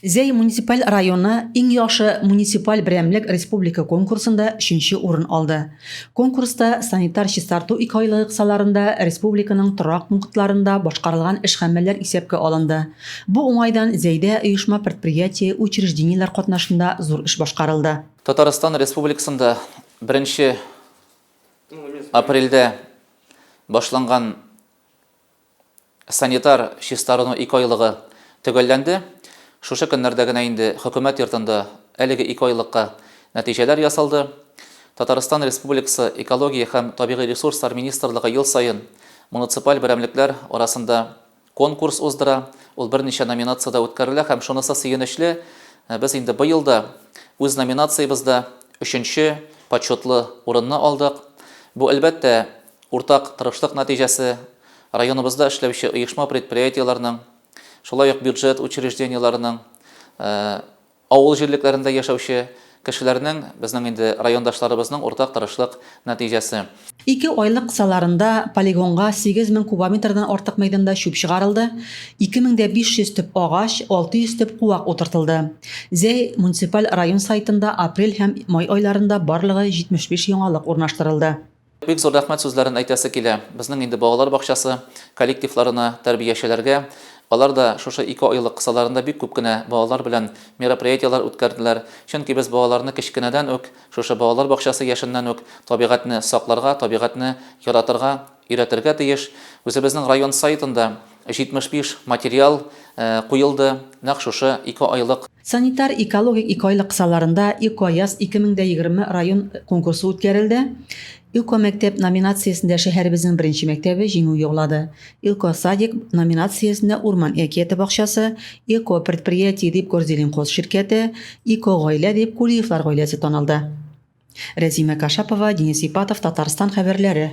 Зәй муниципаль районы Иң яхшы муниципаль берәмлек республика конкурсында өченче урын алды. Конкурста санитар чистарту икеайлыгы кысаларында республиканың торак пунктларында башкарылган эш-гамәлләр исәпкә алынды. Бу уңайдан Зәйдә оешма-предприятие, учреждениеләр катнашында зур эш башкарылды. Татарстан Республикасында беренче апрельдә башланган Санитар чистарыну икеайлыгы төгәлләнде. Шушы көннәрдә генә инде Хөкүмәт йортында әлеге икеайлыкка нәтиҗәләр ясалды. Татарстан Республикасы Экология һәм табигый ресурслар министрлыгы ел саен муниципаль берәмлекләр арасында конкурс уздыра, ул берничә номинациядә үткәрелә һәм шунысы сөенечле, без инде быел да үз номинациябездә өченче почетлы урынны алдык. Бу, әлбәттә, Уртак тырышлык нәтиҗәсе, районыбызда эшләүче оешма-предприятиеләрнең, шулай ук бюджет учреждениеләренең, авыл җирлекләрендә яшәүче кешеләрнең, безнең инде райондашларыбызның уртак тырышлык нәтиҗәсе. Ике айлык кысаларында полигонга 8 мең кубометрдан артык мәйданда чүп чыгарылды, 2 мең дә 500 төп агач, 600 төп куак утыртылды. Зәй муниципаль район сайтында апрель һәм май айларында барлыгы 75 яңалык урнаштырылды. Бик зур рәхмәт сүзләрен әйтәсе килә безнең инде балалар бакчасы коллективларына, тәрбиячеләргә. Алар да шушы ике айлык кысаларында бик күп кенә балалар белән мероприятиеләр үткәрделәр. Чөнки без балаларны кечкенәдән үк, шушы балалар бакчасы яшеннән үк табигатьне сакларга, табигатьне яратырга өйрәтергә тиеш. Үзебезнең район сайтында, 75 материал куелды, нәкъ шушы ике айлык. Санитар-экологик икеайлык кысаларында Экояз 2020 район конкурсы үткәрелде. Экомәктәп номинациясендә шәһәребезнең беренче мәктәбе җиңү яулады. Экосадик номинациясендә Урман әкияте бакчасы, Экопредприятие дип Горзелинхоз ширкәте, Экогаилә дип Кулиевлар гаиләсе танылды. Рәзимә Кашапова, Денис Ипатов, Татарстан хәбәрләре.